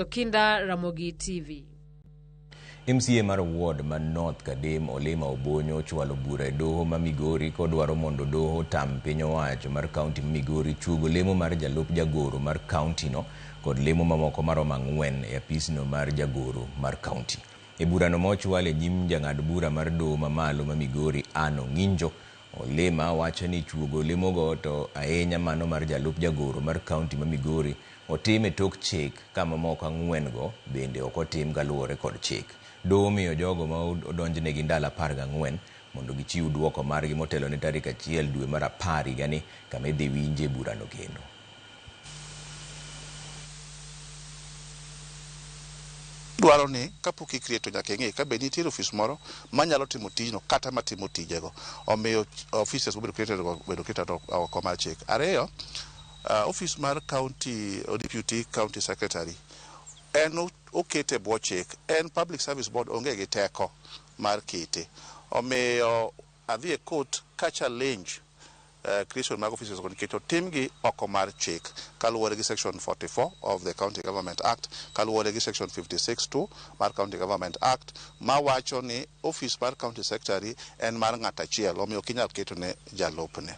Kinda Ramogi TV. MCA mar ward ma North Kadem Olima Obonyo ochwalo bura e doho ma Migori kodwaro mondo doho otam piny owacho mar kaunti ma Migori chuogo lemo mar jalup jagoro mar kauntino kod lemo mamoko maromo ang'wen e apisno mar jagoro mar kaunti. E burano ma ochwal e nyim jang'ad bura mar doho mamalo ma Migori Ann Ong'injo, Olima wacho ni chuogo lemogo to ahinya mano mar jalup jagoro mar kaunti ma Migori Otim e tok chik ka mamoko ang'wen-go bende ok otim kaluwore kod chik. Doho omiyo jogo ma odonjnegi ndalo apar gang'wen mondo gichiw dwoko margi motelo ne tarik achiel dwe mar apar higani kama idhi winje burano kendo. Idwaro ni kapok ikriye to nyaka ing'e kabe nitiere ofis moro manyalo timo tijno kata matimo tijego. Omiyo offices mobedo created go obedo created oko mar chik. Ariyo, Uh, office mar county or deputy county secretary en okete bwo chik en public service board onge gi teko mar kete omiyo adhi e court ka challenge uh, creation mag offices go nikech otimgi oko mar chik kaluwore gi section 44 of the county government act kaluwore gi section 56 2 mar county government act mawacho ni office mar county secretary en mar ng'at achiel omiyo kinyal ketone jalupne.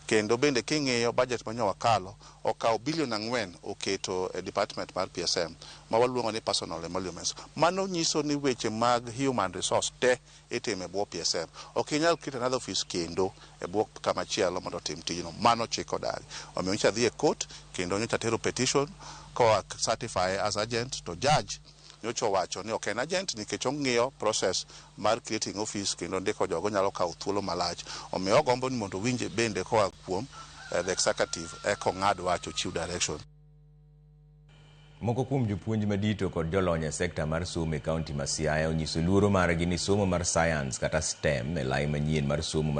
Kendo bende king'iyo budget ma nyo wakalo, okawo billion ang'wen oketo e department mar PSM ma waluongo ni personal emoluments. Mano nyiso ni weche mag human resource te itimo e bwo PSM. Ok inyal create another office kendo e bwo kama chielo mondo otim tijno. Mano chik odagi. Omiyo nyocha adhi e court kendo nyocha atero petition koa certify as urgent to judge Nyocha owacho ni ok en agent nikech ong'iyo process mar creating office kendo ndiko jogo nyalo kawo thuolo malach. Omiyo ogombo ni mondo owinj bende koa kuom the executive eka ong'ad wach ochiw direction. Moko kuom jopuonj madito kod jolony e sekta mar somo e kaunti ma Siaya onyiso luoro margi ni somo mar science kata STEM e lai manyien mar somo mar